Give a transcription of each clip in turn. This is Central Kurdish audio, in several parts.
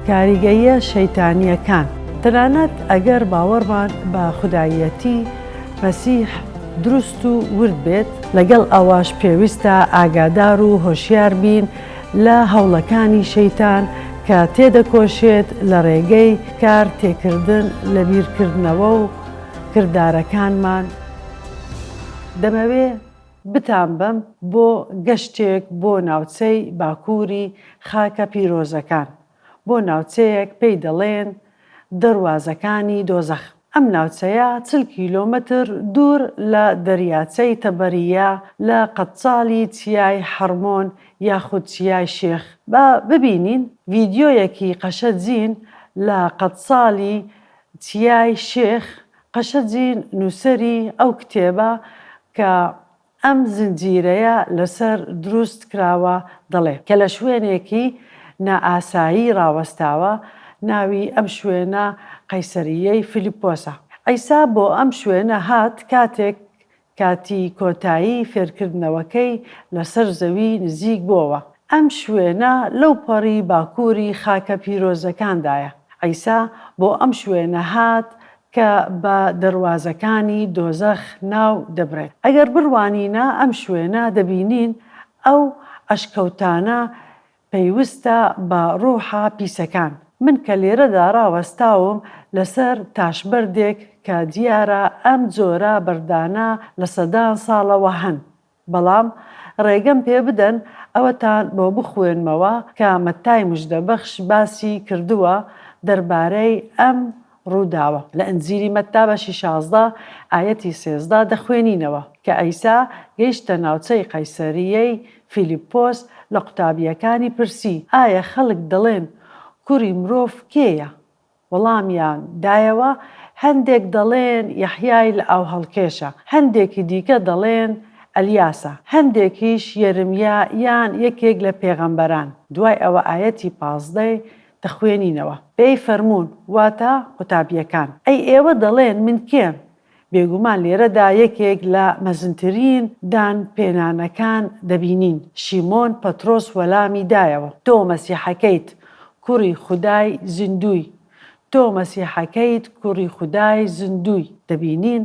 کاریگەییە شەیتانییەکان، تەنانەت ئەگەر باوەڕمان بە خوداییەتی مەسیح دروست و ورد بێت، لەگەڵ ئەوەش پێویستە ئاگادار و هۆشیار بین لە هەوڵەکانی شەیتان کە تێدەکۆشێت لە ڕێگەی کار تێکردن لە بیرکردنەوە و کردارەکانمان دەمەوێ بتانبەم بۆ گەشتێک بۆ ناوچەی باکووری خاکە پیرۆزەکان، بۆ ناوچەیەک پێی دەڵێن دەروازەکانی دۆزەخ. ئەم ناوچەیە چل کیلۆمەتر دوور لە دەریاچەی تەبەرییە لە قەدچاڵی چیای حەڕمۆن یاخود چیای شێخ. با ببینین ڤیدیۆیەکی قەشە جین لە قەدچاڵی چیای شێخ قەشەجی نووسەری ئەو کتێبە کە ئەم زنجیرەیە لەسەر دروست کراوە دەڵێ، کە لە شوێنێکی نائاسایی ڕاوەستاوە، ناوی ئەم شوێنە قەیسەرییەی فیلیپۆسە. عیسا بۆ ئەم شوێنە هات کاتێک کاتی کۆتایی فێرکردنەوەکەی لەسەر زەوی نزیک بۆوە. ئەم شوێنە لەو پەڕی باکووری خاکە پیرۆزەکاندایە. عیسا بۆ ئەم شوێنە هات کە بە دەروازەکانی دۆزەخ ناو دەبرێت. ئەگەر بڕوانینە ئەم شوێنە دەبینین ئەو ئەشکەوتانە پەیوستە بە ڕوحە پیسەکان. من کە لێرەدا ڕاوەستاوم لەسەر تاشبەردێک کە دیارە ئەم جۆرە بەردانە لە سەدان ساڵەوە هەن، بەڵام ڕێگەم پێ بدەن ئەوەتان بۆ بخوێنمەوە کە مەتای مژدەبەخش باسی کردووە دەربارەی ئەم ڕووداوە، لە ئنجیلی مەتتا بەشی شازدە ئایەتی سێزدە دەخوێنینەوە، کە عیسا گەیشتە ناوچەی قەیسەرییەی فیلیپۆس لە قوتابییەکانی پرسی، ئایا خەڵک دەڵێن کوڕی مرۆڤ کێیە؟ وەڵامیان دایەوە، هەندێک دەڵێن یەحیای لە ئاوهەڵکێشە، هەندێکی دیکە دەڵێن ئەلیاسە، هەندێکیش یەرمیا یان یەکێک لە پێغەمبەران، دوای ئەوە ئایەتی پازدە ی. دەخوێنینەوە. ئێی فەرموون، واتە قوتابییەکان. ئەی ئێوە دەڵێن من کێم؟ بێگومان لێرەدا یەکێک لە مەزنترین دان پێنانەکان دەبینین. شیمۆن پەترۆس وەلامی دایەوە، تۆ مەسیحەکەیت، کوڕی خودای زیندووی. تۆ مەسیحەکەیت، کوڕی خودای زیندووی. دەبینین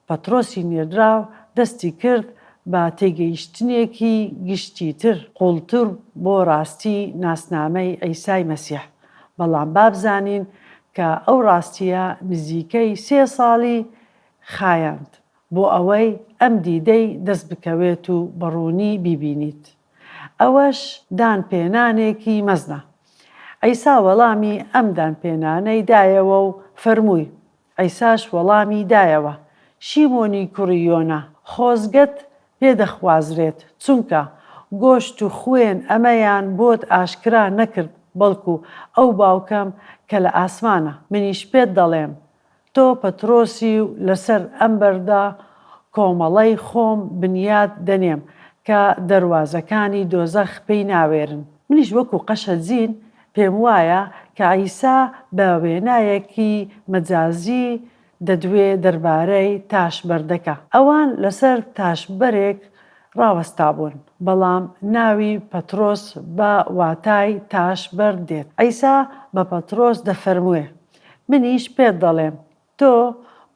پەترۆسی نێردراو دەستی کرد بە تێگەیشتنێکی گشتیتر، قووڵتر بۆ ڕاستی ناسنامەی عیسای مەسیح، بەڵام با بزانین کە ئەو ڕاستییە نزیکەی سێ ساڵی خایاند بۆ ئەوەی ئەم دیدەی دەست بکەوێت و بە ڕوونی بیبینیت. ئەوەش دانپێنانێکی مەزنە. عیسا وەڵامی ئەم دانپێنانەی دایەوە و فەرمووی، عیساش وەڵامی دایەوە، شیمۆنی کوڕی یۆنا، خۆزگەت پێ دەخوازرێت، چونکە گۆشت و خوێن ئەمەیان بۆت ئاشکرا نەکرد، بەڵکو ئەو باوکەم کە لە ئاسمانە. منیش پێت دەڵێم، تۆ پەترۆسی و لەسەر ئەم بەردە کۆمەڵەی خۆم بنیات دەنێم، کە دەروازەکانی دۆزەخ پێی ناوێرن. منیش وەکو قەشە جین پێم وایە کە عیسا بە وێنایەکی مەجازی دەدوێ دەربارەی تاشبەردەکە. ئەوان لەسەر تاشبەرێک ڕاوەستابوون، بەڵام ناوی پەترۆس بە واتای تاشبەر دێت. عیسا بە پەترۆس دەفەرموێ، منیش پێت دەڵێم، تۆ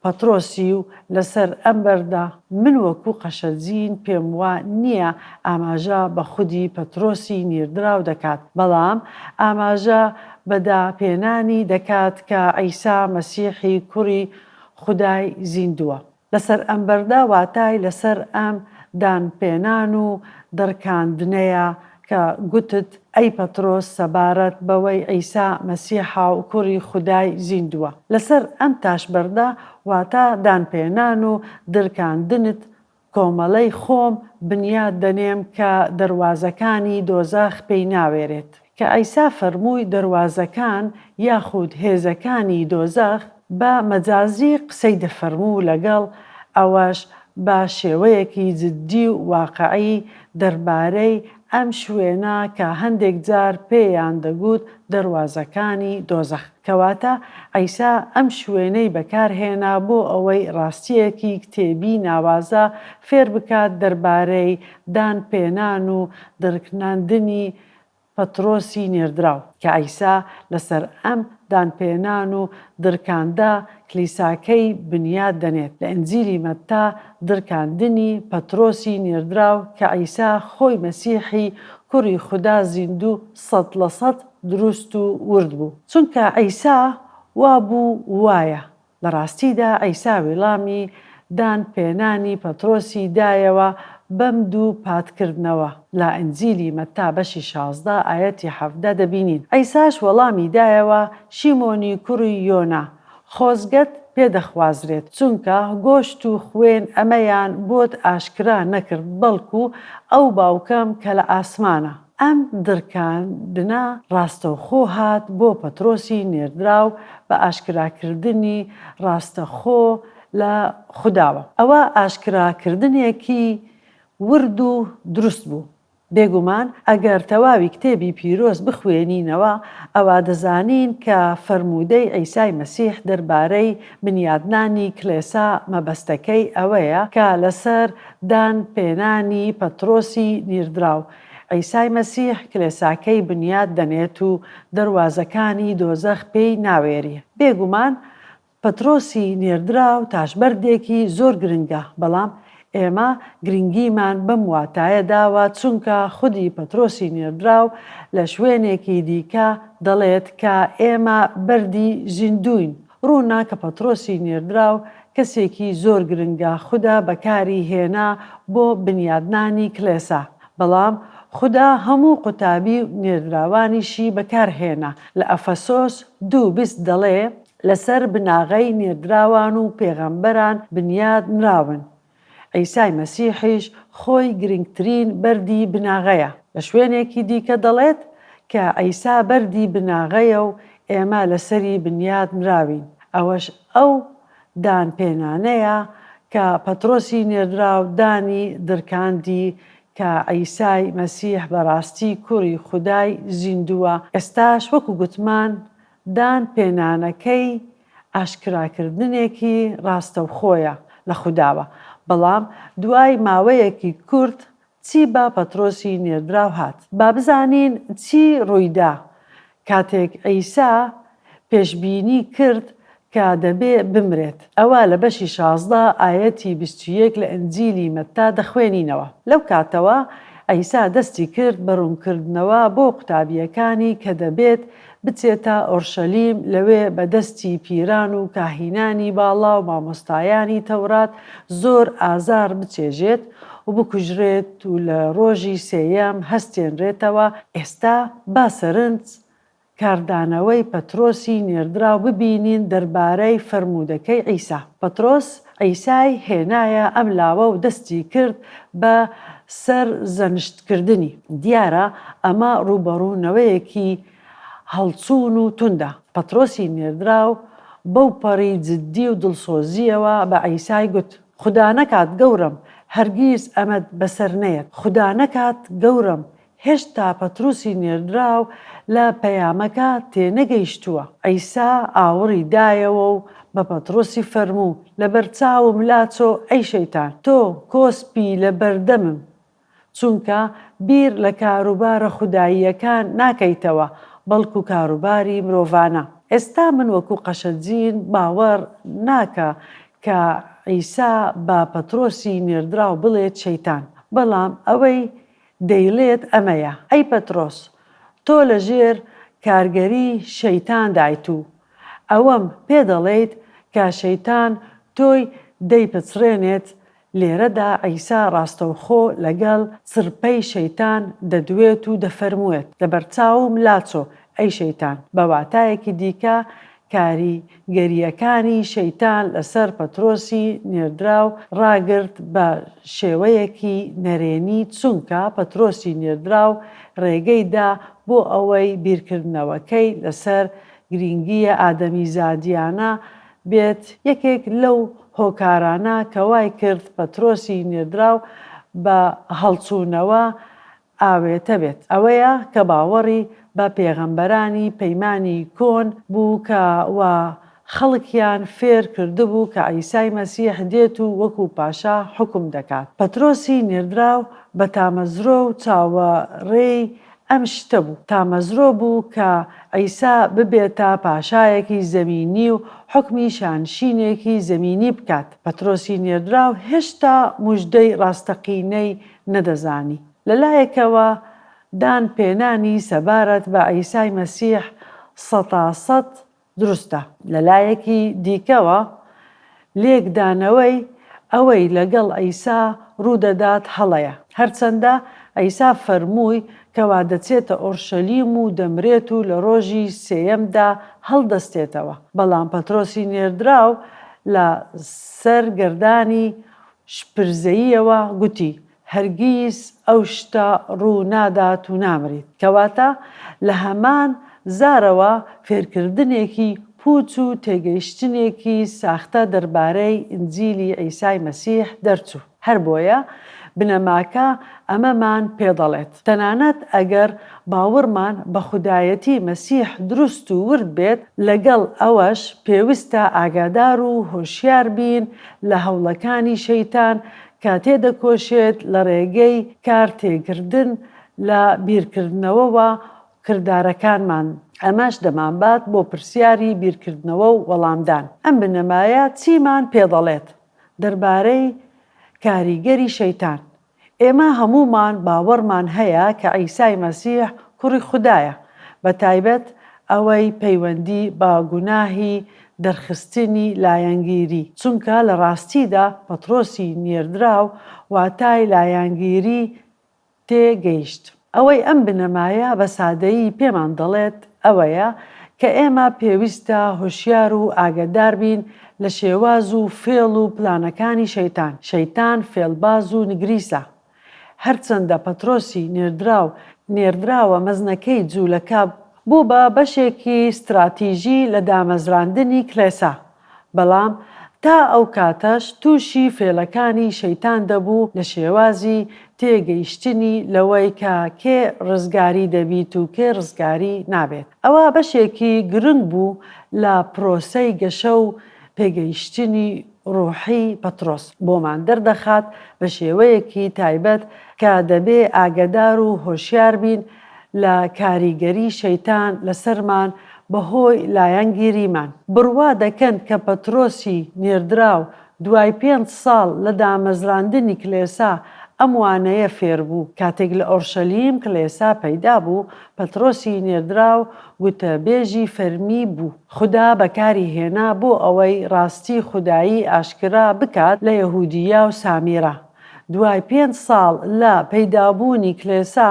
پەترۆسی و لەسەر ئەم بەردە من وەکوو قەشەجین پێم وا نییە ئاماژە بە خودی پەترۆسی نیردراو دەکات، بەڵام ئاماژە بە داپێنانی دەکات کە عیسا مەسیحی کوڕی خودای زیندووە. لەسەر ئەم بەردە واتای لەسەر ئەم دانپێنان و دڕکاندنەیە کە گوتت، ئەی پەترۆس سەبارەت بەوەی عیسا مەسیحە و کوڕی خودای زیندووە، لەسەر ئەم تاشبەردە، واتە دانپێنان و درکاندنت، کۆمەڵەی خۆم بنیات دەنێم کە دەروازەکانی دۆزەخ پێی ناوێرێت. کە عیسا فەرمووی دەروازەکان یاخود هێزەکانی دۆزەخ، بە مەجازی قسەی دەفەرموو لەگەڵ ئەوەش بە شێوەیەکی جدی و واقعی دەربارەی ئەم شوێنە کە هەندێک جار پێیان دەگوت دەروازەکانی دۆزەخ کەواتە عیسا ئەم شوێنەی بەکار هێنا بۆ ئەوەی ڕاستیەکی کتێبی ناوازە فێر بکات دەربارەی دان پێنان و درکناندنی پەترۆسی نێردراو. کە عیسا لەسەر ئەم دانپێنان و درکاندە کلیساکەی بنیات دەنێت، لە ئنجیلی مەتا درکاندنی پەترۆسی نێردراو کە عیسا خۆی مەسیحی کوری خودا زیندوو سەد لە سەد دروست و ورد بوو. چونکە عیسا وابوو وایە، لە ڕاستیدا عیسا ویڵامی دان پێنانی پەترۆسی دایەوە بەم دوو پات کردنەوە، لە ئنجیلی مەتا بەشی شازدە ئایەتی حەڤدە دەبینین عیساش وەڵامی دایەوە شیمۆنی کوڕی یۆنا خۆزگەت پێ دەخوازرێت چونکە گۆشت و خوێن ئەمەیان بۆت ئاشکرا نەکرد بەڵکو ئەو باوکەم کە لە ئاسمانە. ئەم دڕکاندنە ڕاستەوخۆ هات بۆ پەترۆسی نێردراو بە ئاشکراکردنی ڕاستەخۆ لە خوداوە. ئەوە ئاشکراکردنێکی ورد و دروست بوو. بێگومان ئەگەر تەواوی کتێبی پیرۆز بخوێنینەوە، ئەوا دەزانین کە فەرموودەی عیسای مەسیح دەربارەی بنیادنانی کڵێسا مەبەستەکەی ئەوەیە کە لەسەر دان پێنانی پەترۆسی نیردراو عیسای مەسیح کلێساکەی بنیات دەنێت و دەروازەکانی دۆزەخ پێی ناوێری. بێگومان پەترۆسی نێردراو تاشبەردێکی زۆر گرنگە، بەڵام ئێمە گرنگیمان بەم واتایە داوە چونکە خودی پەترۆسی نێردراو لە شوێنێکی دیکە دەڵێت کە ئێمە بەردی زیندووین ڕوونە کە پەترۆسی نێردراو کەسێکی زۆر گرنگە خودا بەکاری هێنا بۆ بنیادنانی کلێسا بەڵام خودا هەموو قوتابی و نێردراوانیشی بەکار هێنا لە ئەفەسۆس دوو بیست دەڵێ لەسەر بناغەی نێردراوان و پێغەمبەران بنیاد نراون عیسای مەسیحیش خۆی گرنگترین بەردی بناغەیە. لە شوێنێکی دیکە دەڵێت کە عیسا بەردی بناغەیە و ئێمە لەسەری بنیات نراوین. ئەوەش ئەو دان پێنانەیە کە پەترۆسی نێردراو دانی درکاندی کە عیسای مەسیح بەراستی کوری خودای زیندووە، ئێستاش وەکو گوتمان دان پێنانەکەی ئاشکراکردنێکی ڕاستەوخۆیە لە خوداوە، بەڵام دوای ماوەیەکی کورت چی بە پەترۆسی نێردراو هات؟ با بزانین چی ڕوویدا کاتێک عیسا پێشبینی کرد کە دەبێ بمرێت، ئەوە لە بەشی شازدە ئایەتی بیست و یەک لە ئنجیلی مەتا دەخوێنینەوە. لەو کاتەوە عیسا دەستی کرد بە ڕوونکردنەوە بۆ قوتابییەکانی کە دەبێت، بچێتە ئۆرشەلیم، لەوێ بە دەستی پیران و کاهینانی باڵا و مامۆستایانی تەورات زۆر ئازار بچێژێت و بکوژرێت و لە ڕۆژی سێیەم هەستێنرێتەوە، ئێستا با سەرنج کاردانەوەی پەترۆسی نێردراو ببینین دەربارەی فەرموودەکەی عیسا. پەترۆس عیسای هێنایە ئەم لاوە و دەستی کرد بە سەرزەنشتکردنی. دیارە ئەمە ڕووبەڕوونەوەیەکی هەڵچوون و توندە. پەترۆسی نێردراو بەوپەڕی جددی و دڵسۆزییەوە بە عیسای گوت، خودا نەکات گەورەم هەرگیز ئەمەت بەسەر نەیەت، خودا نەکات گەورەم هێشتا پەتروسی نێردراو لە پەیامەکە تێنەگەیشتووە. عیسا ئاوڕی دایەوە و بە پەتروسی فەرموو، لەبەرچاوم لاچۆ ئەی شەیتان، تۆ کۆسپی لەبەردەمم، چونکە بیر لە کاروبارە خوداییەکان ناکەیتەوە، بەڵکو کاروباری مرۆڤانە. ئێستا من وەکو قەشەجین باوەڕ ناکە کە عیسا بە پەتروسی نێردراو بڵێت شەیتان، بەڵام ئەوەی دەیڵێت ئەمەیە، ئەی پەترۆس تۆ لە ژێر کارگەری شەیتان دایت و ئەوەم پێ دەڵێیت کە شەیتان تۆی دەیپچڕێنێت، لێرەدا عیسا ڕاستەوخۆ لەگەڵ چرپەی شەیتان دەدوێت و دەفەرموێت، لەبەرچاوم لاچۆ، ئەی شەیتان، بە واتایەکی دیکە کاریگەرییەکانی شەیتان لەسەر پەترۆسی نێردراو ڕاگرت بە شێوەیەکی نەرێنی، چونکە پەترۆسی نێردراو ڕێگەی دا بۆ ئەوەی بیرکردنەوەکەی لەسەر گرینگییە ئادەمیزادییانە بێت، یەکێک لەو هۆکارانە کە وای کرد پەترۆسی نێردراو بە هەڵچوونەوە ئاوێتە بێت ئەوەیە کە باوەڕی بە پێغەمبەرانی پەیمانی کۆن بوو کە وا خەڵکیان فێر کردبوو کە عیسای مەسیح دێت و وەکو پاشا حوکم دەکات. پەترۆسی نێردراو بە تامەزرۆ و چاوەڕێی ئەم شتە بوو. تامەزرۆ بوو کە عیسا ببێتە پاشایەکی زەمینی و حوکمی شانشینێکی زەمینی بکات. پەترۆسی نێردراو هێشتا موژدەی ڕاستەقینەی نەدەزانی. لە لایەکەوە دان پێنانی سەبارەت بە عیسای مەسیح سەتا سەد دروستە. لە لایەکی دیکەوە لێکدانەوەی ئەوەی لەگەڵ عیسا ڕوودەدات هەڵەیە. هەرچەندە عیسا فەرمووی کەوا دەچێتە ئۆرشەلیم و دەمرێت و لە ڕۆژی سێیەمدا هەڵدەستێتەوە، بەڵام پەترۆسی نێردراو لە سەر گەردانی شپرزەییەوە گوتی، هەرگیز ئەو شتە ڕوو نادات و نامریت. کەواتە لە هەمان زارەوە فێرکردنێکی پووچ و تێگەیشتنێکی ساختە دەربارەی ئینجیلی عیسای مەسیح دەرچوو. هەر بۆیە بنەماکە ئەمەمان پێ دەڵێت، تەنانەت ئەگەر باوەڕمان بە خودایەتی مەسیح دروست و ورد بێت، لەگەڵ ئەوەش پێویستە ئاگادار و هۆشیار بین لە هەوڵەکانی شەیتان کە تێدەکۆشێت لە ڕێگەی کار تێکردن لە بیرکردنەوەوە کردارەکانمان ئەمەش دەمانبات بۆ پرسیاری بیرکردنەوە و وەڵامدان ئەم بنەمایە چیمان پێدەڵێت دەربارەی کاریگەری شەیتان ئێمە هەموومان باوەڕمان هەیە کە عیسای مەسیح کوڕی خودایە، بە تایبەت ئەوەی پەیوەندی بە گوناهی دەرخستنی لایەنگیری، چونکە لە ڕاستیدا پەترۆسی نێردراو واتای لایەنگیری تێ گەیشت. ئەوەی ئەم بنەمایە بە سادەیی پێمان دەڵێت ئەوەیە کە ئێمە پێویستە هۆشیار و ئاگەدار بین لە شێواز و فێڵ و پلانەکانی شەیتان، شەیتان فێڵباز و نگریسە. هەرچەندە پەترۆسی نێردراو نێردراوە مەزنەکەی جوولەکە، بوو بە بەشێکی ستراتیژی لە دامەزراندنی کڵێسا، بەڵام تا ئەو کاتەش تووشی فێڵەکانی شەیتان دەبوو لە شێوازی تێگەیشتنی لەوەی کە کێ ڕزگاری دەبیت و کێ ڕزگاری نابێت ئەوە بەشێکی گرنگ بوو لە پرۆسەی گەشە و پێگەیشتنی ڕووحی پەترۆس بۆمان دەردەخات بە شێوەیەکی تایبەت کە دەبێ ئاگەدار و هۆشیار بین لە کاریگەری شەیتان لەسەرمان بەهۆی لایەنگیریمان. بڕوا دەکەن کە پەترۆسی نێردراو دوای پێنج ساڵ لە دامەزراندنی کلێسا ئەم وانەیە فێربوو. کاتێک لە ئۆرشەلیم کلێسا پەیدا بوو، پەترۆسی نێردراو گوتەبێژی فەرمی بوو. خودا بەکاری هێنا بۆ ئەوەی ڕاستی خودایی ئاشکرا بکات لە یەهودییا و سامیرا. دوای پێنج ساڵ لە پەیدابوونی کلێسا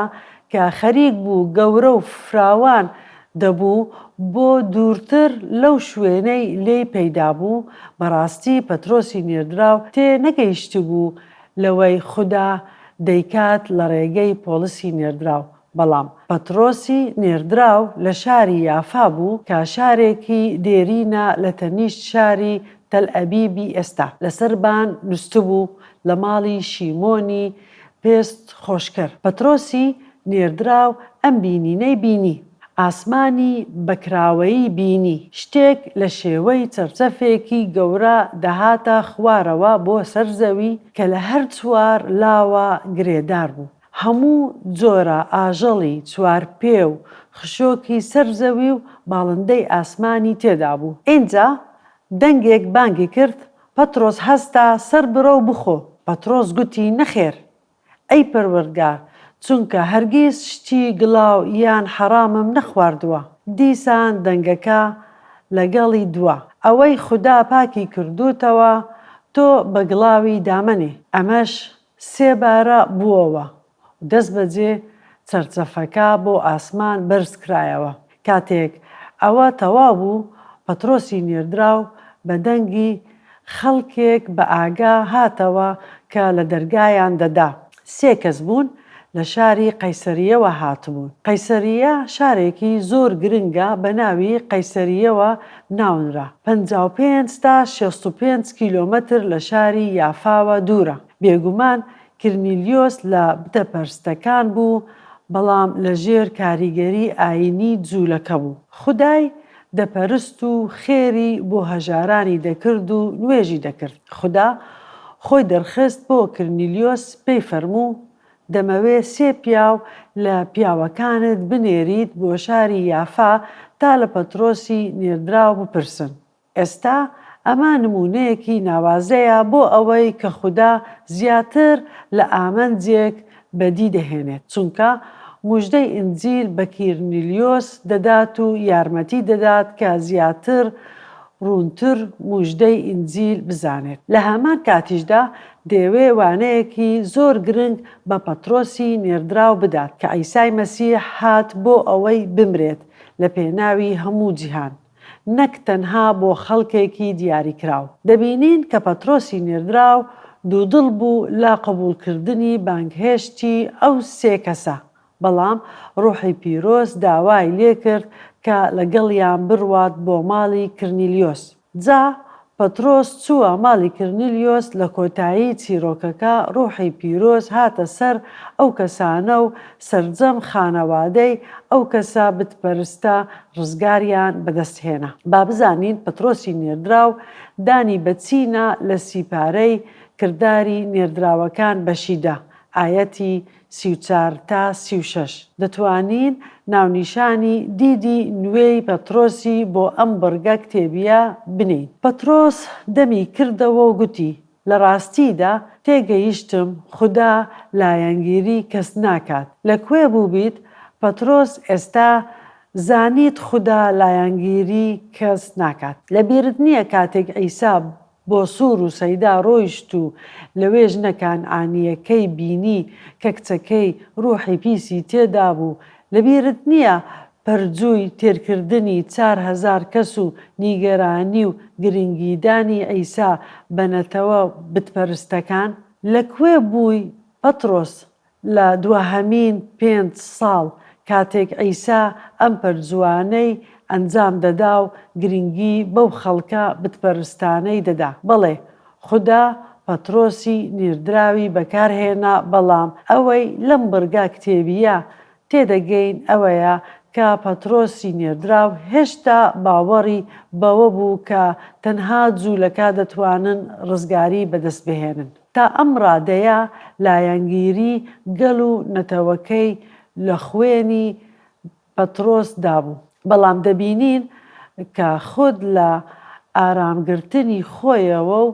کە خەریک بوو گەورە و فراوان دەبوو بۆ دوورتر لەو شوێنەی لێی پەیدا بوو، بەڕاستی پەترۆسی نێردراو تێ نەگەیشتبوو لەوەی خودا دەیکات لە ڕێگەی پۆڵسی نێردراو، بەڵام پەتڕۆسی نێردراو لە شاری یافا بوو کە شارێکی دێرینە لە تەنیشت شاری تەلئەبیبی ئێستا، لەسەر بان نووستبوو، لە ماڵی شیمۆنی پێست خۆشکەر. پەتڕۆسی نێردراو ئەم بینینەی بینی، ئاسمانی بە کراوەیی بینی، شتێک لە شێوەی چەفچەفێکی گەورە دەهاتە خوارەوە بۆ سەر زەوی کە لە هەر چوار لاوە گرێدار بوو، هەموو جۆرە ئاژەڵی چوارپێ و خشۆکی سەر زەوی و باڵندەی ئاسمانی تێدا بوو. ئینجا دەنگێک بانگی کرد، پەترۆس هەستا، سەر بڕە و بخۆ! پەترۆس گوتی، نەخێر، ئەی پەروەردگار، چونکە هەرگیز شتی گڵاو یان حەڕامم نەخواردووە. دیسان دەنگەکە لەگەڵی دوا، ئەوەی خودا پاکی کردووتەوە، تۆ بە گڵاوی دامەنێ. ئەمەش سێبارە بووەوە و دەستبەجێ چەرچەفەکە بۆ ئاسمان بەرزکرایەوە. کاتێک ئەوە تەواو بوو، پەترۆسی نێردراو بە دەنگی خەڵکێک بەئاگا هاتەوە کە لە دەرگایان دەدا. سێ کەس بوون، لە شاری قەیسەرییەوە هاتبوون. قەیسەرییە شارێکی زۆر گرنگە بە ناوی قەیسەرییەوە ناونرا، پەنجا و پێنج تا شەست و پێنج کیلۆمەتر لە شاری یافاوە دوورە. بێگومان کرنیلیۆس لە بتەپەرستەکان بوو، بەڵام لەژێر کاریگەری ئایینی جوولەکە بوو. خودای دەپەرست و خێری بۆ هەژارانی دەکرد و نوێژی دەکرد. خودا خۆی دەرخست بۆ کرنیلیۆس، پێی فەرموو، دەمەوێ سێ پیاو لە پیاوەکانت بنێریت بۆ شاری یافا تا لە پەترۆسی نێردراو بپرسن. ئێستا ئەمە نموونەیەکی ناوازەیە بۆ ئەوەی کە خودا زیاتر لە ئامنجێک بەدی دەهێنێت، چونکە موژدەی ئینجیل بە کیرنیلیۆس دەدات و یارمەتی دەدات کە زیاتر ڕوونتر موژدەی ئینجیل بزانێت. لە هەمان کاتیشدا دەیەوێ وانەیەکی زۆر گرنگ بە پەترۆسی نێردراو بدات کە عیسای مەسیح هات بۆ ئەوەی بمرێت لە پێناوی هەموو جیهان نەک تەنها بۆ خەڵکێکی دیاریکراو. دەبینین کە پەترۆسی نێردراو دوودڵ بوو لە قبوڵکردنی بانگهێشتی ئەو سێ کەسە، بەڵام ڕوحی پیرۆز داوای لێکرد کە لەگەڵیان بڕوات بۆ ماڵی کرنیلیۆس. جا پەترۆس چووە ماڵی کرنیلیۆس، لە کۆتایی چیرۆکەکە ڕووحی پیرۆز هاتە سەر ئەو کەسانە و سەرجەم خانەوادەی ئەو کەسە بتپەرستە ڕزگاریان بەدەست هێنا. با بزانین پەترۆسی نێردراو دانی بە چی نا لە سی پارەی کرداری نێردراوەکان بەشی دا، ئایەتی سی و چوار تا سی و شەش، دەتوانین ناونیشانی دیدی نوێی پەترۆسی بۆ ئەم بڕگە کتێبییە بنێین. پەترۆس دەمی کردەوە و گوتی، لە ڕاستیدا تێگەیشتم خودا لایەنگیری کەس ناکات. لە کوێ بووبیت، پەترۆس ئێستا زانیت خودا لایەنگیری کەس ناکات. لەبیرت نییە کاتێک عیسا بۆ سوور و سەیدا ڕۆیشت و لەوێ ژنە کانعانییەکەی بینی کە کچەکەی ڕووحی پیسی تێدابوو، لەبیرت نییە پەرجووی تێرکردنی چار هەزار کەس و نیگەرانی و گرنگیدانی عیسا بە نەتەوە بتپەرستەکان؟ لەکوێ بووی پەتڕۆس؟ لە دواهەمین پێنج ساڵ کاتێک عیسا ئەم پەرجووانەی ئەنجام دەدا و گرنگی بەو خەڵکە بتپەرستانەی دەدا. بەڵێ، خودا پەترۆسی نێردراوی بەکارهێنا بەڵام ئەوەی لەم بڕگە کتێبییە تێدەگەین ئەوەیە کە پەترۆسی نێردراو هێشتا باوەڕی بەوە بوو کە تەنها جوولەکە دەتوانن ڕزگاری بەدەستبهێنن. تا ئەم ڕادەیە لایەنگیری گەل و نەتەوەکەی لە خوێنی پەترۆس دابوو، بەڵام دەبینین کە خود لە ئارامگرتنی خۆیەوە و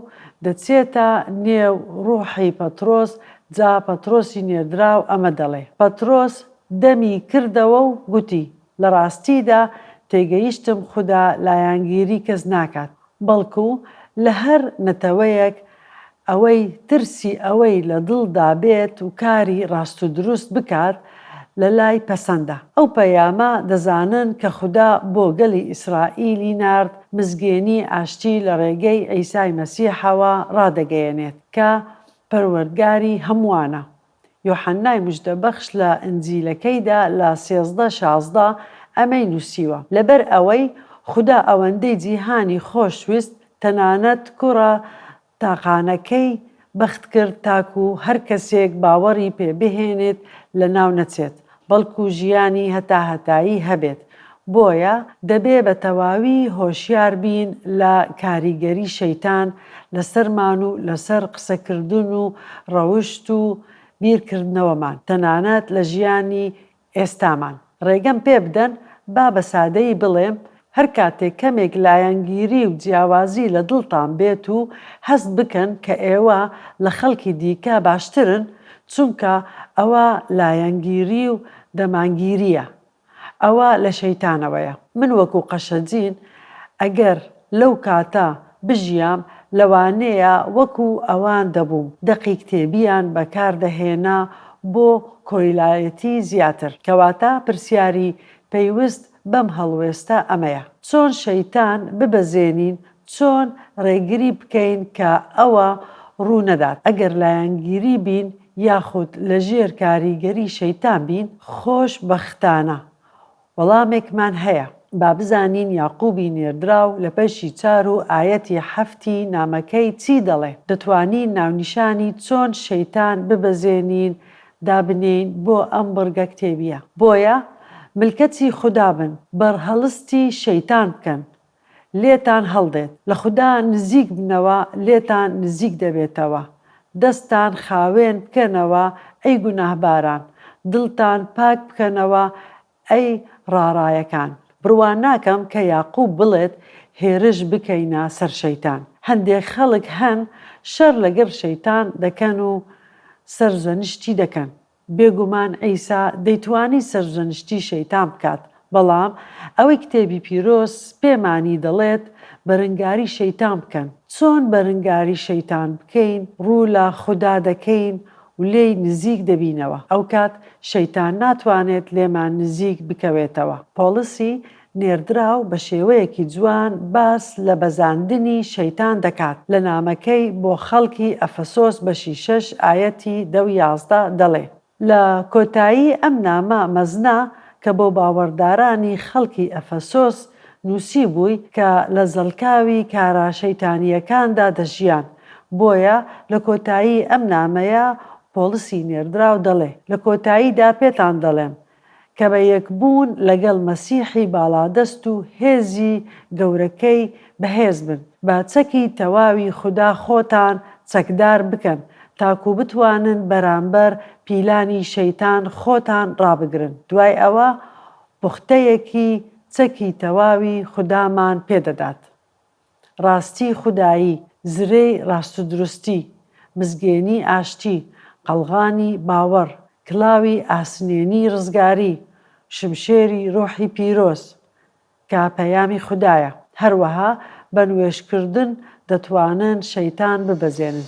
دەچێتە نێو ڕوحی پەترۆس، جا پەترۆسی نێردراو ئەمە دەڵێ. پەترۆس دەمی کردەوە و گوتی، لە ڕاستیدا تێگەیشتم خودا لایەنگیری کەس ناکات، بەڵکو لە هەر نەتەوەیەک ئەوەی ترسی ئەوەی لە دڵدا بێت و کاری ڕاست و دروست بکات لە لای پەسەندە. ئەو پەیامە دەزانن کە خودا بۆ گەلی ئیسرائیلی نارد، مزگێنی ئاشتی لە ڕێگەی عیسای مەسیحەوە ڕادەگەیەنێت کە پەروەردگاری هەمووانە. یۆحەننای مژدەبەخش لە ئنجیلەکەیدا لە سێزدە شازدە ئەمەی نووسیوە، لەبەر ئەوەی خودا ئەوەندەی جیهانی خۆش ویست تەنانەت کوڕە تاقانەکەی بەخت کرد تاکوو هەر کەسێک باوەڕی پێ بهێنێت لەناو نەچێت، بەڵکو ژیانی هەتاهەتایی هەبێت، بۆیە دەبێ بە تەواوی هۆشیار بین لە کاریگەری شەیتان لەسەرمان و لەسەر قسەکردن و ڕەوشت و بیرکردنەوەمان، تەنانەت لە ژیانی ئێستامان. ڕێگەم پێ بدەن با بە سادەیی بڵێم هەر کاتێک کەمێک لایەنگیری و جیاوازی لە دڵتان بێت و هەست بکەن کە ئێوە لە خەڵکی دیکە باشترن، چونکە ئەوە لایەنگیری و دەمانگیرییە، ئەوە لە شەیتانەوەیە. من وەکو قەشەجین ئەگەر لەو کاتە بژیام لەوانەیە وەکو ئەوان دەبووم، دەقی کتێبیان بەکار دەهێنا بۆ کۆیلایەتی زیاتر، کەواتە پرسیاری پەیوست بەم هەڵوێستە ئەمەیە چۆن شەیتان ببەزێنین چۆن ڕێگری بکەین کە ئەوە ڕوو نەدات ئەگەر لایەنگیری بین یاخود لەژێر کاریگەری شەیتان بین خۆش بەختانە وەڵامێکمان هەیە با بزانین یاقوبی نێردراو لە بەشی چار و ئایەتی حەفتی نامەکەی چی دەڵێ دەتوانین ناونیشانی چۆن شەیتان ببەزێنین دابنێین بۆ ئەم بڕگە کتێبیە بۆیە ملکەچی خودا بن بەرهەڵستی شەیتان بکەن لێتان هەڵدێت لە خودا نزیک بنەوە لێتان نزیک دەبێتەوە دەستان خاوێن بکەنەوە ئەی گوناهباران دڵتان پاک بکەنەوە ئەی ڕاڕایەکان! بڕوا ناکەم کە یاقوب بڵێت هێرش بکەینە سەر شەیتان. هەندێک خەڵک هەن شەر لەگەر شەیتان دەکەن و سەرزەنشتی دەکەن. بێگومان عیسا دەیتوانی سەرزەنشتی شەیتان بکات، بەڵام ئەوەی کتێبی پیرۆز پێمانی دەڵێت بەرنگاری شەیتان بکەن. چۆن بەرنگاری شەیتان بکەین؟ ڕوو لە خودا دەکەین و لێی نزیک دەبینەوە ئەوکات شەیتان ناتوانێت لێمان نزیک بکەوێتەوە پۆڵسی نێردراو بە شێوەیەکی جوان باس لە بەزاندنی شەیتان دەکات لە نامەکەی بۆ خەڵکی ئەفەسۆس بەشی شەش ئایەتی دە و یازدە دەڵێ لە کۆتایی ئەم نامە مەزنە کە بۆ باوەڕدارانی خەڵکی ئەفەسۆس نووسیبووی کە لە زەڵکاوی کارە شەیتانییەکاندا دەژیان بۆیە لە کۆتایی ئەم نامەیە پۆڵسی نێردراو دەڵێ، لە کۆتاییدا پێتان دەڵێم، کە بە یەکبوون لەگەڵ مەسیحی باڵادەست و هێزی گەورەکەی بەهێز بن، بە چەکی تەواوی خودا خۆتان چەکدار بکەن، تاکو بتوانن بەرامبەر پیلانی شەیتان خۆتان ڕابگرن، دوای ئەوە پوختەیەکی چەکی تەواوی خودامان پێ دەدات. ڕاستی خودایی، زرێی ڕاستودروستی، مزگێنی ئاشتی، قەڵغانی باوەڕ، کلاوی ئاسنێنی ڕزگاری، شمشێری ڕۆحی پیرۆز، کە پەیامی خودایە. هەروەها بە نوێژکردن دەتوانن شەیتان ببەزێنن.